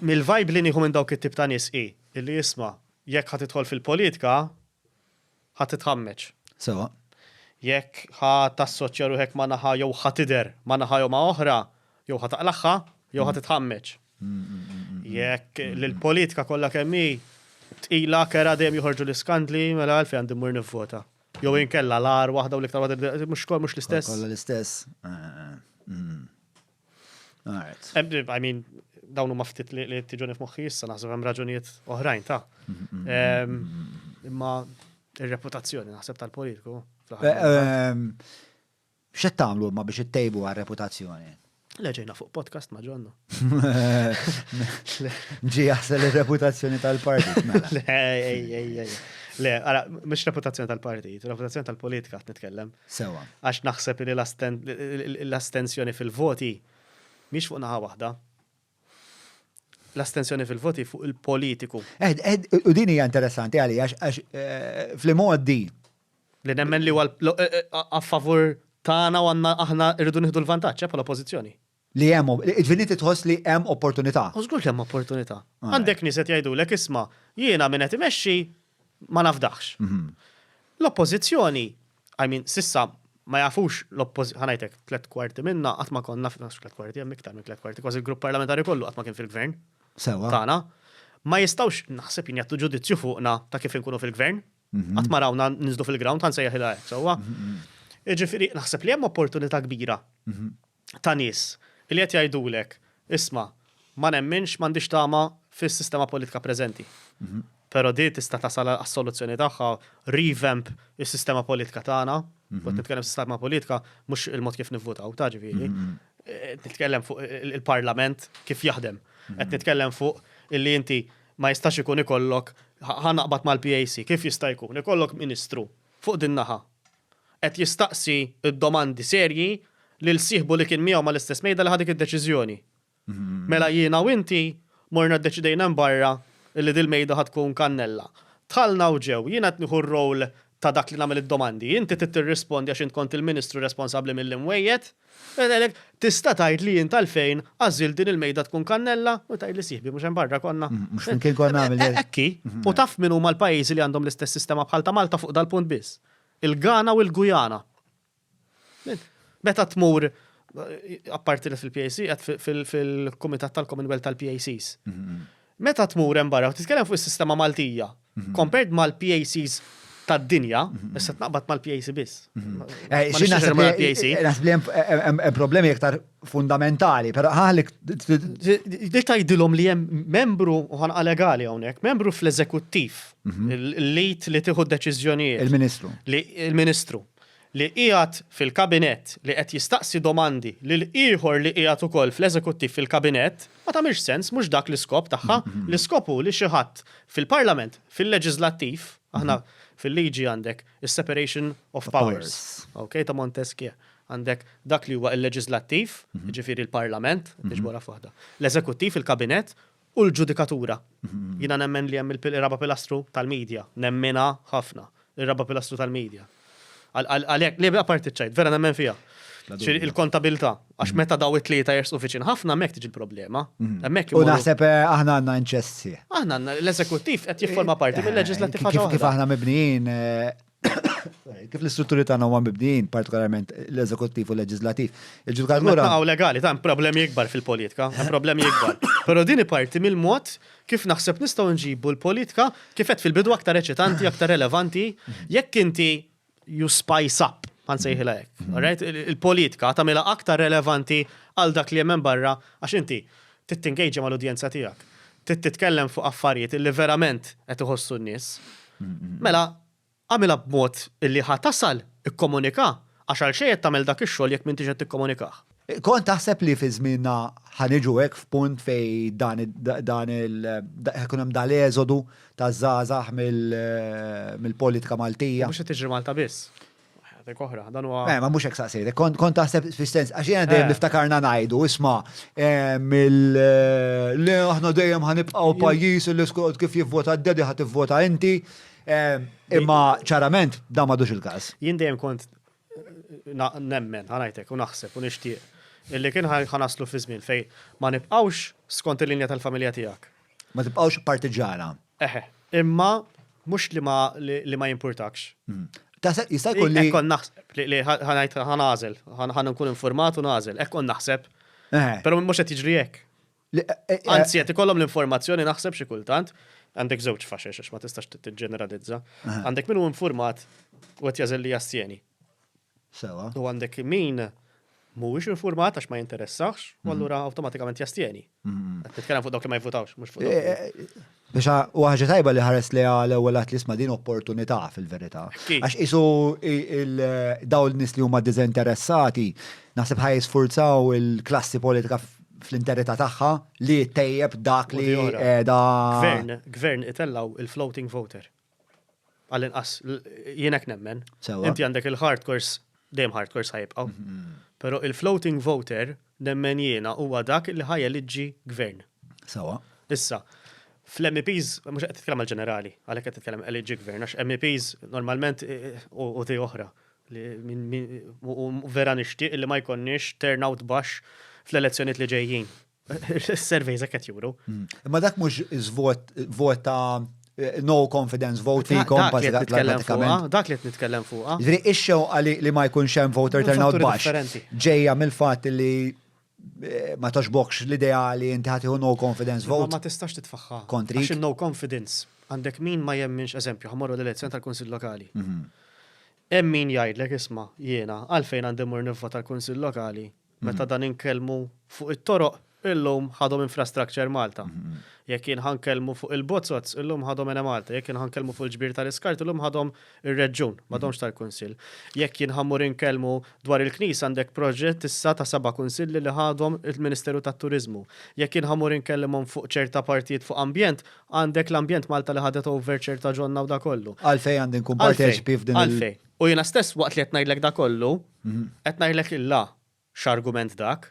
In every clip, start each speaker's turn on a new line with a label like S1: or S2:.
S1: Mill-vibe li nieħu minn dawk it-tip ta' nies hi li isma', jekk ħa tidħol fil-politika, ħa titħammeġ. Sewwa.
S2: Jekk
S1: ħa tassoċja ruħek ma' naħa jew ħa tidher ma' naħa jew ma' oħra, jew ħa taqlagħha jew ħa titħammeġ. Jekk li l-politika kollha kemm hi tqila, kerha, dejjem joħorġu l-iskandli, mela għalfejn għandi mmur nivvota? Jew inkella l-agħar waħda u l-iktar waħda mhux kollha mhux l-istess? Kollha l-istess.
S2: Alright. I mean,
S1: dawn huma ftit li tiġuni f'moħħi issa naħseb hemm raġunijiet oħrajn ta' imma ir-reputazzjoni naħseb tal-politiku.
S2: X'qed tagħmlu ma biex ittejbu għar-reputazzjoni? Leġejna fuq
S1: podcast ma ġonnu.
S2: Ġi jaħsel il-reputazzjoni tal-partit. Mela.
S1: Le, għara, mux reputazzjoni tal-partit, reputazzjoni tal-politika għat nitkellem. Sewwa. Għax
S2: naħseb li
S1: l-astensjoni fil-voti mhix fuq naħa waħda. L-astensjoni fil-voti fuq il-politiku. U din
S2: hija interessanti għalli għax eh, fl-imgħoddi. Li
S1: nemmen li huwa eh, eh, a favur tagħna u għandna aħna rridu nieħdu l-vantaġġ bħala pożizzjoni. Li hemm,
S2: id-Viniti tħoss li hemm opportunità. U żgur li hemm opportunità.
S1: Għandek nies qed jgħidulek isma', jiena min qed imexxi ma nafdahx. L-Oppożizzjoni, I mean, s'issa ma jafux l-Oppożizzjoni, ħa ngħidlek, tliet kwarti minnha qatt ma konna, mhux tliet kwarti, hemm iktar minn tliet kwarti, kważi l-Grupp Parlamentari kollu qatt ma kien fil-Gvern tagħna. Ma jistgħux, naħseb jien, jagħtu ġudizzju fuqna ta' kif inkunu fil-Gvern. Qatt ma rawna ninżlu fil-ground, ħa nsejjaħilha hekk sewwa. Jiġifieri naħseb li hemm opportunità kbira. ta' nies li qed jgħidulek, isma', ma nemminx, m'għandix tama fis-sistema politika preżenti. Però din tista' tasal għas-soluzzjoni tagħha, revamp is-sistema politika tagħna, u qed nitkellem sistema politika mhux il-mod kif nivvutaw, ta' ġifieri, qed nitkellem fuq il-Parlament kif jaħdem. Qed nitkellem fuq illi inti ma jistax ikun ikollok, ħa naqbad mal-PAC, kif jista' jkun ikollok Ministru fuq din-naħa, qed jistaqsi d-domandi serji lil sieħbu li kien miegħu mal-istess mejda li ħa dik id-deċiżjoni. Mela jiena u inti morna ddeċidejna hemm barra li dil-mejda ħa tkun kannella. Dħalna u ġew, jiena qed nieħu r-role ta' dak li nagħmel id-domandi, inti trid tirrispondi għax int kont il-ministru responsabbli mill-imwejjed. Tista' tgħid li int għalfejn għażilt din il-mejda tkun kannella? U tgħidli sieħbi mhux hemm barra konna. Mhux flimkien konna
S2: għamilna. Hekk hi. U taf
S1: min huma l-pajjiżi li għandhom l-istess sistema bħal ta' Malta fuq dal-punt biss? il-Ghana u l-Guyana. Meta tmur apparti li fil-PAC, qed fil-Kumitat tal-Commonwealth tal-PACs. Meta tmur hemm barra, titkellem fuq is-sistema Maltija, compared mal-PACs tad-dinja, issa tnaqbad mal-PAC biss. Xi naħseb
S2: mal-PAC? Naħseb li hemm problemi iktar fundamentali, pero ħalik. Di
S1: tajdilom li jem membru uħan legali għonek, membru fl-eżekuttiv, mhm. l-lit li tiħu deċizjonijiet. Il-ministru.
S2: Il-ministru.
S1: Li ijat fil-kabinet li qed jistaqsi domandi li l-iħor li ijat u koll fl-eżekuttiv fil-kabinet, ma tamiex sens, mux dak l-iskop taħħa, mhm. l-iskopu li xieħat fil-parlament, fil-leġizlattiv, aħna mhm. fil-liġi għandek, Is-separation of powers. Okay, ta' Montesquieu. Għandek dak li huwa il-leġislattiv, mhm. ġifiri il-parlament, mhm. iġbora fuħda. L-eżekuttiv, il-kabinet, u l-ġudikatura. Mhm. Jina nemmen li hemm il-raba pilastru tal-medja, nemmena ħafna, il-raba pilastru tal-medja. Għalek, li bla parti ċajt, vera nemmen fija. Il-kontabilta, Għax meta daw it-tlieta jersqu viċin ħafna hemmhekk tiġi l-problema. Hemmhekk U naħseb
S2: eh, aħna għandna inċessi. Aħna għandna l-eżekuttiv
S1: qed jifforma parti mill-leġislattiv ħaġa Kif aħna mibnijin
S2: eh, kif l-istrutturi tagħna huma mibnijin, partikolarment l-eżekuttiv u l-leġislattiv. Il-ġudikatura. Naqgħu legali, ta'
S1: problemi ikbar fil-politika, hemm problemi ikbar. Però din parti mill-mod kif naħseb nistgħu nġibu l-politika kif qed fil-bidu aktar eċitanti, aktar relevanti, jekk inti you spice up, għan sejħila jek. Mm-hmm. Il-politika tamela aktar relevanti għal dak li jemmen barra, għax inti, tittingejġi ma l-udjenza tijak. Titkellem fuq affarijiet li verament qed iħossu n-nis. Mm-hmm. Mela, għamila b'mod illi ħatasal ikkomunika, għax għal xejn tagħmel dak ix-xogħol jekk m'intix qed tikkomunikaħ. Kont taħseb
S2: li fi żmienna ħa niġu hekk f'punt fejn dan dan il ikun hemm dal-eżodu taż-żgħażagħ mill-politika Maltija? Mhux qed tiġri Malta biss.
S1: Dik oħra, dan huwa. Eh, ma mhux hekk saqsejtek.
S2: Kont taħseb fis-sens għax jiena dejjem eh. niftakarna ngħidu, isma' eh, mill eh, le aħna dejjem ħanibqgħu pajjiż li skont kif jivvota d-dedi ħad tivvota inti. Imma ċarament da madux il-każ.
S1: Jien dejjem kont
S2: nemmen,
S1: ħanajtek, u naħseb,
S2: u
S1: nixtieq, illi kien ħanaslu fi żmien fej ma nibqgħux skont il-linja tal-familja tiegħek. Ma tibqgħux
S2: partiġana. Eħe,
S1: imma mhux li ma li ma jimpurtakx. Hmm. Taħseb jista'
S2: jkun li. Ekkon naħseb li
S1: ħanajt ħanażel, ħan nkun informat u nażel, ekkon naħseb. Però mhux qed jiġri hekk. Anzi, qed ikollhom l-informazzjoni naħseb xi kultant, għandek żewġ faxex għax ma tistax tiġġeneralizza. Għandek min hu informat u qed jażel li jassjeni. Sewa.
S2: U għandek min
S1: mhuwiex informat għax ma jinteressax, u allura awtomatikament jastjeni. Qed nitkellem fuq dawk li ma jivvutawx, mhux fuq dawk. Biex u
S2: ħaġa tajba li ħares li għal ewwel għat li sma din opportunità fil-verità. Għax isu daw l-nis li huma diżinteressati, naħseb ħaj sfurzaw il-klassi politika fl-interità tagħha li tejjeb dak li da. Gvern, gvern itellaw
S1: il-floating voter. Għall-inqas, jien hekk nemmen. Inti għandek il-hardcores, dejjem hardcores ħajibqgħu. Mm-hmm. Però il-floating voter nemmen jiena huwa dak li ħajja liġi gvern. Sawa.
S2: Issa,
S1: fl-MEPs, mhux qed titkellem għal-ġenerali, għalhekk qed titkellem liġi gvern, għax MEPs normalment e, e, u ti oħra. Vera nixtieq li ma jkonniex turnout baxx fl-elezzjoniet li ġejjin. Surveys qed juru. Hmm. Imma dak mhux
S2: vot ta' eh, no confidence vote fi kompa dak li qed nitkellem
S1: fuqha. Ah. Ġifieri ix-xewqa li
S2: ma jkunx hemm voter turnout baxx ġejja mill-fatt li eh, ma toxbokx l-ideali inti ħatiħu no confidence vote. Ma tistax titfaħħa.
S1: Kontri. Għax no
S2: confidence
S1: għandek min ma jemminx eżempju ħamorru l-elezzjoni tal-Kunsill Lokali. Mhm. Hemm min jgħidlek isma' jiena għalfejn għandi mur nivvota tal-Kunsill Lokali Meta dan inkellmu fuq it-toroq, illum ħadhom Infrastructure Malta. Jekk jien ħa nkellmu fuq il-bozzoz, illum ħadhom Enemalta. Jekk jien ħa nkellmu fuq il-ġbir tal-iskart, illum ħadhom ir-Reġjun, m'għadhomx tal-Kunsill. Jekk jien ħa mmur inkellmu dwar il-Knisja għandek proġett issa ta' seba' Kunsilli li ħadhom il-Ministeru tat-Turiżmu. Jekk jien ħa mmur inkellimhom fuq ċerta partijiet fuq Ambjent, għandek l-Ambjent Malta li ħadet over ċerta ġonna u dak kollu. Għalfejn għandi nkun
S2: parteċipi f'din il-. Għalfejn? U jiena stess
S1: waqt li qed ngħidlek dak kollu, Qed ngħidlek illa x'argument dak,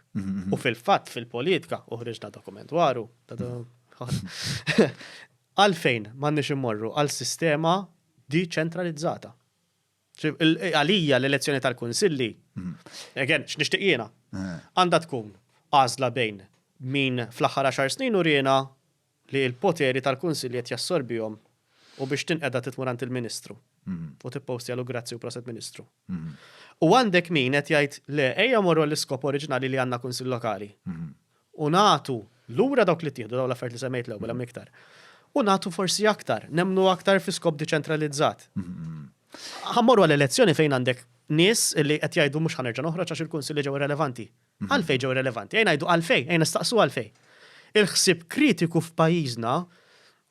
S1: u fil-fatt fil-politika, u ħriġna dokument dwaru, għalfejn m'għandniex immorru għal sistema diċentralizzata. Għalija l-elezzjoni tal-kunsilli, again, x'nixtieq jiena, għandha tkun għażla bejn min fl-aħħar għaxar snin uriena li l-poteri tal-Kunsill qed jassorbihom u biex tinqeda titmur għand il-Ministru u tippostjalu grazzi u proset Ministru. U għandek min qed jgħid le ejja morru għall-iskop oriġinali li għandna Kunsill Lokali u nagħtu lura dawk li ttieħdu, dawn l-affarijiet li semmejt l-ewwel hemm iktar, u nagħtu forsi aktar, nemmnu aktar fi skop deċentralizzat. Ħa mmorru għal elezzjoni fejn għandek nies li qed jgħidu mhux ħa nerġa' noħroġ għax il-Kunsilli ġew irrelevanti. Għalfejn ġew irrelevanti? Ejn ngħidu għalfejn, ejn nistaqsu għalfejn. Il-ħsieb kritiku f'pajjiżna,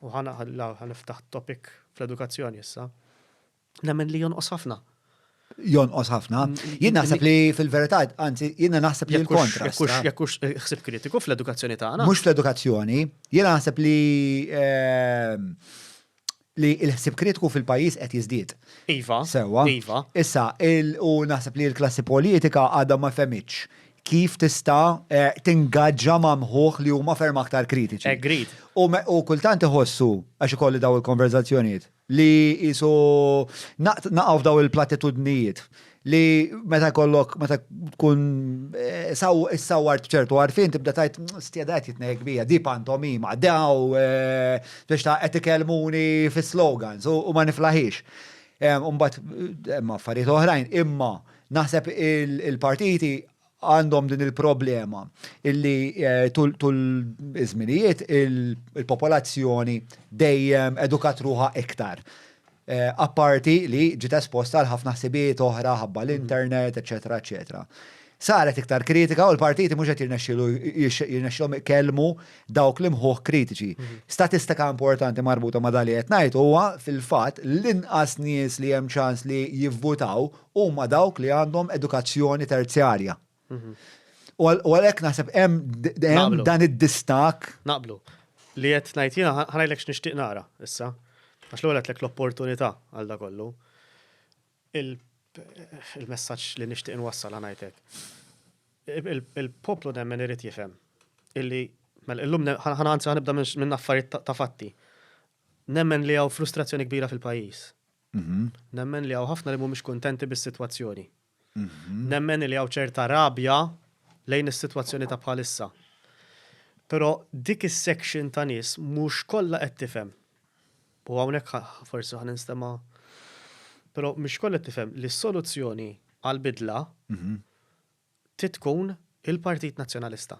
S1: u ħana ħaniftaħ topic fl-edukazzjoni issa, nemmen li jonqos ħafna jonqos
S2: ħafna. Jien naħseb li fil-verità, anzi, jien naħseb li l-kontra. Jekkux ħsib
S1: kritiku fl-edukazzjoni tagħna. Mhux fl-edukazzjoni,
S2: jien naħseb li ehm, li l-ħsib kritiku fil-pajjiż qed jiżdied. Iva. Sewwa.
S1: Iva.
S2: Issa,
S1: u
S2: naħseb li l-klassi politika għadha ma fehmitx kif tista' eh, tingaġġa ma' mħuħ li huma ferm aktar kritiċi. Agreed. U
S1: kultant
S2: iħossu, għax ikolli daw il-konverzazzjonijiet, li jisu naqaw f'daw il-platitudnijiet li meta kollok, meta tkun eh, sawar ċertu għarfin, tibda tajt mm, stjeda għet jitnej kbija, di pantomima, daw, eh, biex ta' għet ikelmuni fi slogans u ma niflaħix. Umbat, eh, ma affarijiet oħrajn, imma naħseb il-partiti għandhom din il-problema illi eh, tul iż-żminijiet il-popolazzjoni dejjem edukat ruħa iktar. Eh, apparti li ġiet esposta għal ħafna ħsibijiet oħra ħabba l-internet, eċetera, eċetera. Saret iktar kritika u l-partiti mhux qed jirnexxilhom ikellmu dawk li mħuħ kritiċi. Mhm. Statistika importanti marbuta ma' dali qed ngħid huwa fil-fatt l-inqas nies li hemm ċans li jivvutaw huma dawk li għandhom edukazzjoni terzjarja. U għalhekk naħseb hemm dan id-distak. Naqblu.
S1: Li qed ngħid jiena ħanajlek x'nixtieq nara issa. Għax l-ewwel għedlek l-opportunità għal da kollu. Il-messaġġ li nixtieq nwassal ngħidlek. Il-poplu nemmen irid jifhem illi mela illum ħana anzi ħanibda minn affarijiet ta' fatti. Nemmen li hawn frustrazzjoni kbira fil-pajjiż. Nemmen li hawn ħafna li mhumiex kuntenti bis-sitwazzjoni. Nemmen li hawn ċerta rabja lejn is-sitwazzjoni ta' bħalissa. Però dik is-section ta' nies mhux kollha qed tifhem. U hawnhekk forsi ħa ninstema' però mhix kollha qed tifhem li s-soluzzjoni għall-bidla trid tkun il-Partit Nazzjonalista.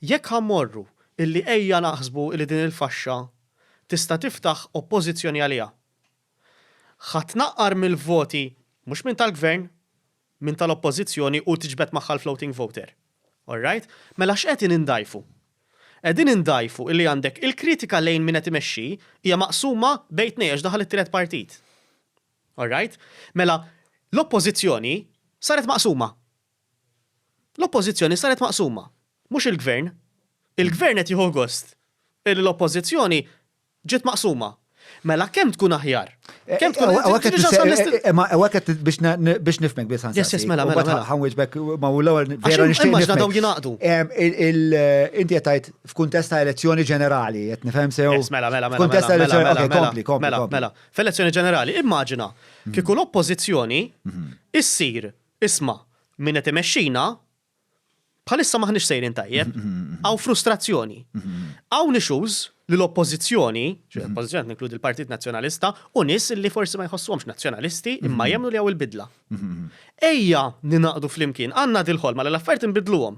S1: Jekk ħa mmorru illi ejja naħsbu illi din il-faxxa tista' tiftaħ oppożizzjoni għaliha. Ħa tnaqqar mill-voti mhux minn tal-Gvern, minn tal-Oppożizzjoni u tiġbed magħha l-floating voter. All right? Mela x'qegħdin indgħajfu? Qegħdin indgħajfu illi għandek il-kritika lejn min qed imexxi hija maqsuma bejn tnejn għax daħal it-tielet partit. All right? Mela l-Oppożizzjoni saret maqsuma. L-Oppożizzjoni saret maqsuma, mhux il-Gvern. Il-Gvern qed jieħu gost illi l-Oppożizzjoni ġiet maqsuma. Mela kemm tkun aħjar? Kemm tkun aħjar? Hawnhekk qed tistaqsi. Imma hawnhekk qed
S2: biex nifhmek biss ħansaqsi. Yes, yes, mela, mela. Mela
S1: ħanwiġbek ma
S2: hu l-ewwel vera nixtieq. Imma ġna daw jingħaqdu. Inti qed tgħid f'kuntest ta' elezzjoni ġenerali, qed nifhem sew. Yes, mela, mela, mela. F'kuntest ta' elezzjoni, ok, kompli, kompli. Mela, mela. F'elezzjoni ġenerali,
S1: immaġina kieku l-Oppożizzjoni issir Isma', min qed imexxina, bħalissa m'aħniex sejrin tajjeb. Hawn frustrazzjoni. Hawn issues li l-Oppożizzjoni, l-Oppożizzjoni qed ninkludi l-Partit Nazzjonalista, u nies li forsi ma jħossuhomx Nazzjonalisti imma jemmnu li hawn il-bidla. Ejja ningħaqdu flimkien, għandna dil-ħolma li l-affarijiet inbiddluhom.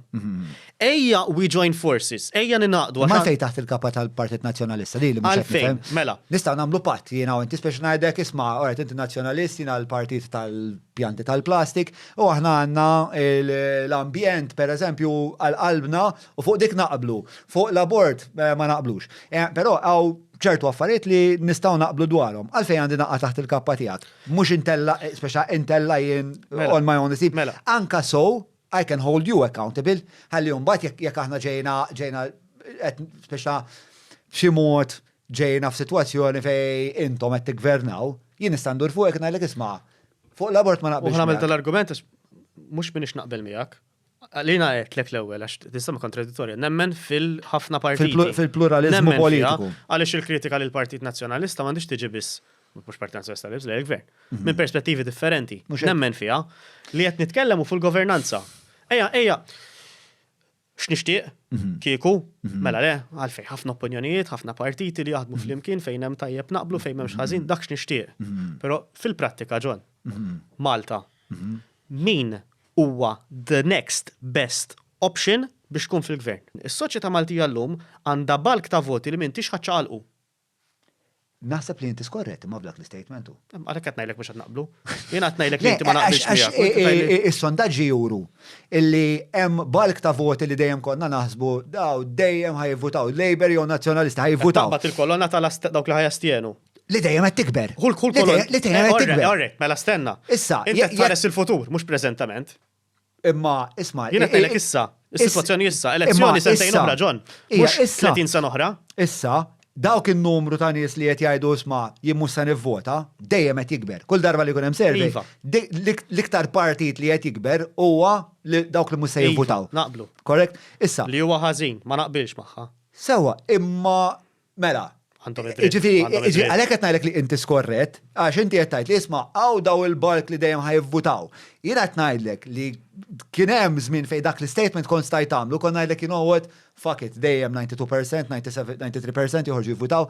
S1: Ejja we join forces, ejja ningħaqdu. Imma għalfejn taħt il-kapa
S2: tal-Partit Nazzjonalista? Din li mhux qed nifhem. Mela. Nistgħu
S1: nagħmlu patt
S2: jiena u inti spiex ngħidlek isma' oret inti Nazzjonalist jiena l-partit tal-pjanti tal-plastik u aħna għandna l-ambjent pereżempju għal qalbna u fuq dik naqblu. Fuq l-abort ma naqblux. Però hawn ċertu affarijiet li nistgħu naqblu dwarhom. Għalfejn għandi naqa' taħt il-kappa tiegħek? Mhux intella' spiex intella' jien on my own. Anke sew I can hold you accountable, ħalli mbagħad jekk jekk aħna ġejna ġejna qed spiċċa b'xi mod ġejna f'sitwazzjoni fejn intom qed tiggvernaw, jien nista' ndur fuqek ngħidlek isma' fuq l-abort ma naqbilx. U ħamel tal-argument għax
S1: mhux minix naqbel miegħek. Lina għedt lek l-ewwel għax tisma' kontradittorja, nemmen fil-ħafna partiti. Fil-pluralizmu politiku.
S2: Għaliex il-kritika
S1: lill-Partit Nazzjonalista m'għandix tiġi biss mhux parti tal-Sors tal-Libs, lejn il-Gvern, mhm. minn perspettivi differenti, nemmen fiha, li qed nitkellem fuq il-governanza. Eja, eja, x'nixtieq mhm. kieku, mhm. mela le, għalfej ħafna opinjonijiet, ħafna partiti li jaħdmu flimkien fejn hemm tajjeb naqblu fejn m'hemmx ħażin, dak x'nixtieq. Però fil-prattika ġon, Malta, min huwa the next best option biex tkun fil-gvern. Is-soċjetà Maltija llum għandha balk ta' voti li m'intix ħaċċaqalqu.
S2: Naħseb li inti skorret imma f'dak l-istatement. Għalhekk qed ngħidlek mhux qed
S1: naqblu. Jien qed ngħidlek li inti ma naqbilx miegħek. Is-sondaġġi juru
S2: illi hemm balk ta' voti li dejjem konna naħsbu daw dejjem ħajvutaw Labour jew Nazzjonalisti ħajvutaw. Bat il-kolonna tal
S1: dawk li ħajastjenu. Li dejjem qed tikber.
S2: Kull kull kolonna. Li dejjem
S1: qed tikber.
S2: Mela stenna.
S1: Issa, inti tħares
S2: il-futur,
S1: mhux preżentament. Imma,
S2: isma. Jien qed ngħidlek issa,
S1: is-sitwazzjoni issa, elezzjoni sentejn oħra John, mhux 30 sena oħra. Issa,
S2: dawk in-numru ta' nies li qed jgħidu isma' jien mhux se nivvota, dejjem qed jikber. Kull darba li jkun hemm servi, iva. l-iktar partit li qed jikber huwa dawk li mhux se iva, jivvutaw. Naqblu. Korrekt?
S1: Issa.
S2: Li huwa ħażin, ma
S1: naqbilx magħha. Sewa, imma
S2: Mela, Ġifiri, għalek qed ngħidlek li inti skorret, għax inti qed tgħid li isma' għaw daw il-bark li dejjem ħajvvutaw. Jien qed ngħidlek li kien hemm żmien fejn dak l-istatement kont stajt tagħmlu, kon ngħidlek you know what, fuck it, dejjem 92%, 93% joħorġu jivvutaw.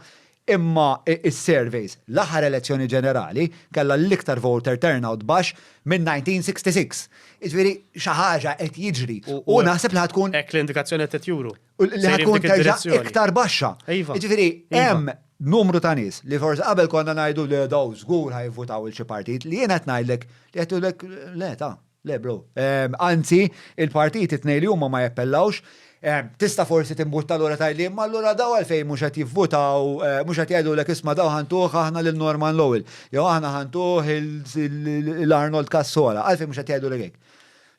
S2: Imma is-surveys, l-aħħar elezzjoni ġenerali, kellha l-iktar voter turnout baxx minn 1966. Ġifiri, xi ħaġa qed jiġri. U naħseb li ħad tkun. Hekk l-indikazzjoni qed
S1: juru. U li Sejrin ħatkun dik terġa'
S2: id-direzzjoni. iktar baxxa. Iva. Jiġifieri Iva. hemm numru ta' nies li forsi qabel konna ngħidu le daw żgur ħajvvutaw il xi partit li jien qed ngħidlek li qed jgħidulek le ta, le bro. Ehm, Anzi, il-partiti t-tnejn li huma ma jappellawx, ehm, tista' forsi timbutta lura tgħidli imma allura daw għalfejn mhux qed jivvutaw, eh, mhux qed jgħidulek isma' daw ħantuh aħna lil Norman Lowell, jew aħna ħantuh il- il- il-Arnold Cassola, għalfejn mhux qed jgħidulek hekk.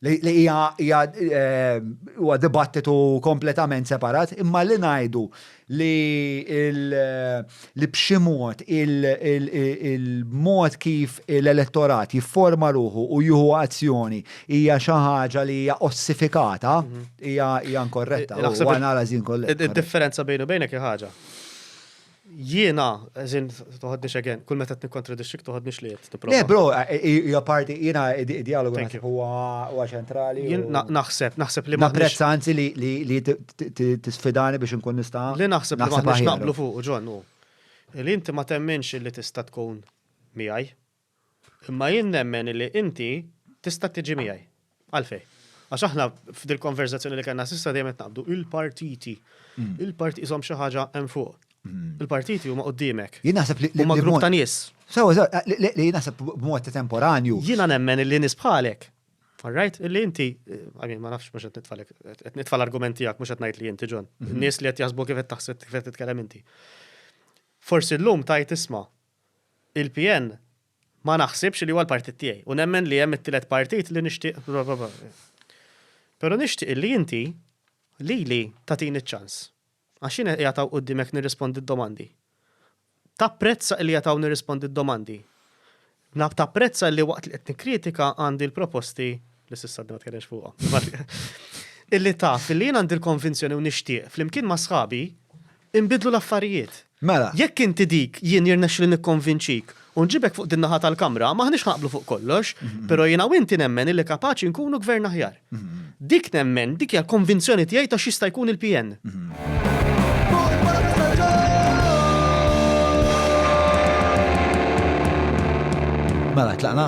S2: li hija huwa dibattitu kompletament separat, imma li ngħidu li li b'xi mod il-mod kif l-elettorat jifforma ruħu u jieħu azzjoni hija xi ħaġa li hija ossifikata mhm. hija inkorretta. Naħseb analiżi inkorretta. Id-differenza bejn u bejnek
S1: ħaġa. Jiena, as in, toħodni xegen, kull meta t-nikontradixxik toħodni xliet. Le, bro,
S2: hija parti, jiena id-dialogu naħseb huwa ċentrali. Naħseb, naħseb
S1: li ma. Naprezz anzi li
S2: tisfidani biex nkun nista'. Li naħseb li ma
S1: naqblu fuq, John, u. Li inti ma temminx li tista' tkun miegħi. Imma jien nemmen li inti tista' tiġi miegħi. Għalfejn? Għax aħna f'dil-konverżazzjoni li kellna s'issa dejjem qed naqbdu, il-partiti. Il-parti qishom xi ħaġa hemm fuq. Il-partiti huma quddiemek. Jien naħseb li. Huma grupp
S2: ta' nies.
S1: Sewwa, sewwa, li
S2: jien naħseb b'mod temporanju. Jiena nemmen li nies
S1: bħalek, all right, li inti, I mean, ma nafx mhux qed nitfgħalek, qed nitfa' l-argument tiegħek mhux qed ngħid li inti John. In-nies li qed jaħsbu kif qed taħseb kif qed titkellem inti. Forsi llum tgħid isma', Il-PN ma naħsibx li huwa l-partit tiegħi u nemmen li hemm it-tielet partit li nixtieq Però nixtieq illi inti lili tagħtini ċ-ċans għax jiena qiegħed hawn quddiemek nirrispondi d-domandi. Tapprezza illi qiegħed hawn nirrispondi d-domandi. Tapprezza illi waqt li qed nikkritika għandi l-proposti li s'issa għadni ma tkellimx fuqhom. Illi taf illi jien għandi l-konvinzjoni u nixtieq flimkien ma' sħabi Inbidlu l-affarijiet. Mela. Jekk inti
S2: dik,
S1: jien jirnexxili nikkonvinċik u nġibek fuq din-naħa tal-Kamra, m'aħniex ħa naqblu fuq kollox, però jiena u inti nemmen illi kapaċi nkunu Gvern aħjar. Dik nemmen, dik hija l-konvinzjoni tiegħi ta' x'jista' jkun il-PN.
S2: Mela, tlaqna?